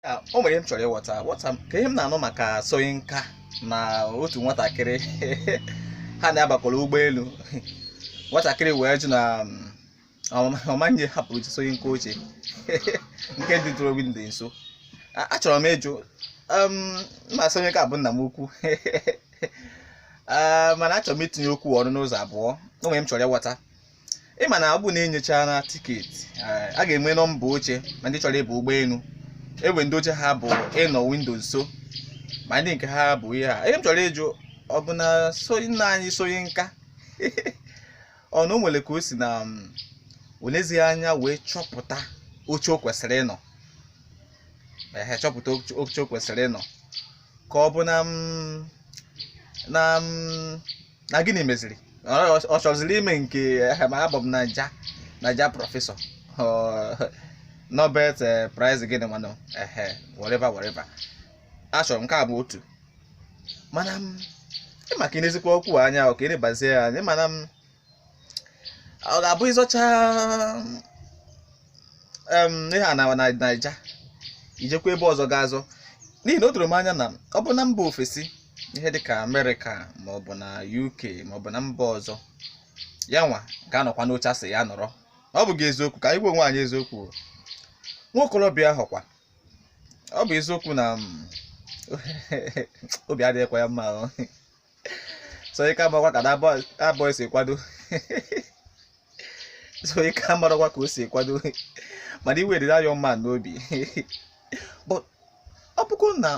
Ah, o nwere ihe m chọrọ ịghọta ghọta maka ihe m na-anụ maka Soyinka na otu nwatakịrị ha na ya bakọrọ ụgbọelu nwatakịrị wee jụ na mm, ọ ma- ọ maghị ahapụrụ ji Soyinka oche nke dịtụrụ windo nso A- achọrọ m ịjụ um, ma Soyinka bụ nna m ukwu Ah, mana achọrọ m itinye okwu ọnụ n'ụzọ abụọ o nwere ihe m chọrọ ịghọta ị ma na ọ bụ na enyocha na tiketi a ga-enwe nọmba oche ma ndị chọrọ ịba ụgbọelu enwe ndị oche ha bụ ịnọ windo nso ma ndị nke ha bụ ihe a ihe m chọrọ ịjụ ọ bụ na Soyi- nna anyị Soyinka ọ na o nwere ka o si na mm, o lezighị anya wee chọpụta oche o kwesịrị ịnọ ehe chọpụta oche- oche o kwesịrị ịnọ ka ọ bụ na mm, na mm, na gịnị meziri Ọ- ọ chọziri ime nke ehe, ma abụ m naija naija prọfesọ Ọ, nobel eh, prize gịnị manụ ehe whatever whatever achọrọ m nke a bụ otu mana m ịma ka i nezikwa okwu a anya ọ ka i nebazie ya anya mana m ọ ga-abụ ịzọcha em, ihe a na na- naija i jekwa ebe ọzọ ga azọ n'ihi na o doro m anya na ọ bụ na mba ofesi ihe dịka amerịka maọbụ na uk maọbụ na mba ọzọ ya nwa ga-anọkwa n'oche a sị ya nọrọ ọ bụghị eziokwu ka anyị gwa onwe anyị eziokwu o. nwa okorobịa ahụ kwa ọ bụ eziokwu na mm, obi adịghịkwa ya mma o. Soyinka amakwa ka that boy si kwado Soyinka amarakwa ka o si kwado mana iwe dị that young man n'obi but ọ bụkwa na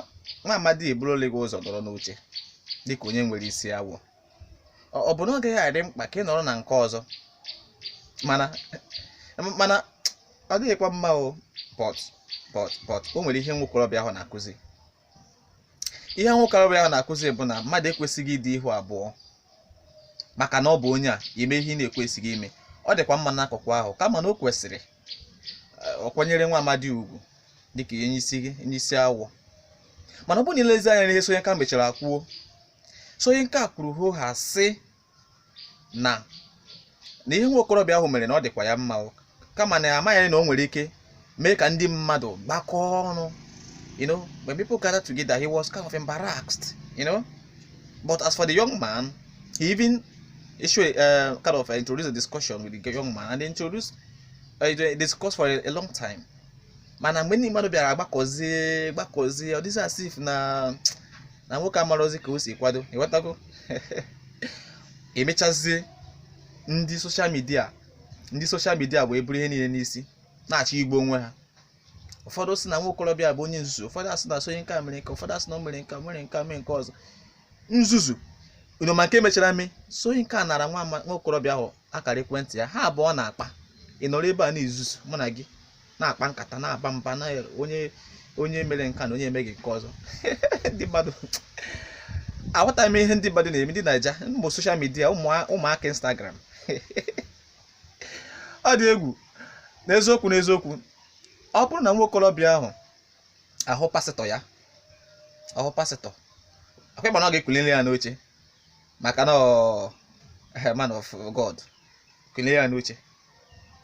nwa amadi eburole gị ụzọ nọrọ n'oche dịka onye nwere isi awọ ọ bụ na ọ gaghị adị mkpa ka ị nọrọ na nke ọzọ mana mana ọ dịghịkwa mma o but but but o nwere ihe nwokorobịa ahụ na-akụzi ihe nwokorobịa ahụ na-akụzi bụ na mmadụ ekwesịghị ịdị ihu abụọ maka na ọ bụ onye a ime ihe ị na-ekwesịghị ime ọ dịkwa mma n'akụkụ ahụ kama na o kwesịrị eh, ọ kwanyere nwa amadi ugwu dịka onye isi gị onye isi awọ mana ọ bụrụ na i lezie anya n'ihe Soyinka mechara kwuo Soyinka kwuru hoo haa sị na na ihe nwa okorobịa ahụ mere na ọ dịkwa ya mma o. kama na amaghị na o nwere ike mee ka ndị mmadụ gbakọọ ọnụ you know when people gathered together he was kind of embarrassed you know but as for the young man he even issue uh, kind of uh, introduced a discussion with the young man and they introduced uh, they discussed for a, a long time mana mgbe ndị mmadụ bịara gbakọzie gbakọzie ọ dịzị as if na na nwoke amarọzi ka o si kwado ịghọtago emechazie ndị soshal midia ndị soshal midia wee buru ihe niile n'isi na-achọ igbu onwe ha ụfọdụ sị na nwa okorobịa bụ onye nzuzu ụfọdụ asị na Soyinka mere nke ụfọdụ asị na o mere nke a mere nke a mere nke ọzọ nzuzu unu ma nke mechara mee Soyinka nara nwa ama- nwa okorobịa ahụ akara ekwentị ya ha abụọ na-akpa ị nọrọ ebe a na-ezuzu mụ na gị na-akpa nkata na-aba mba na onye onye mere nke a na onye emeghị nke ọzọ ndị mmadụ aghọtaghị m ihe ndị mmadụ na-eme ndị naija ụmụ soshal midia ụmụaka instagram ọ dị egwu n'eziokwu n'eziokwu ọ bụrụ na nwa okorobịa ahụ ahụ pasịtọ ya ahụ pasịtọ ọkwa ị ma na ọ ga-ekulili ya n'oche maka na ọ eh, man of god kulie ya n'oche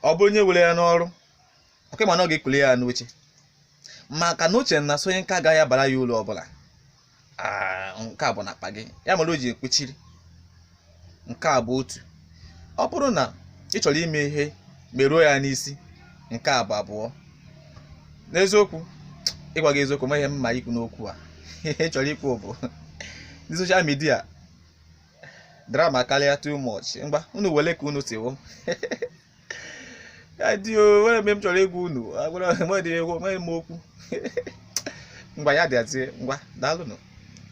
ọ bụrụ onye were ya n'ọrụ ọkwa ị ma na ọ ga-ekuli ya n'oche maka na o che na Soyinka agaghị abara ya uru ọbụla Ah, nke a bụ na akpa gị ya mere o ji ekwechiri nke a bụ otu ọ bụrụ na ị chọrọ ime ihe meruo ya n'isi nke a bụ abụọ n'eziokwu ịgwa gị eziokwu ma ihe m ma ikwu n'okwu a ihe m chọrọ ikwu bụ ndị soshal midia drama karịa too much ngwa unu wele ka unu tiwo adio were mgbe m chọrọ ịgwa unu agwara m dị egwu enweghị m okwu ngwa ya dịazie ngwa daalụnụ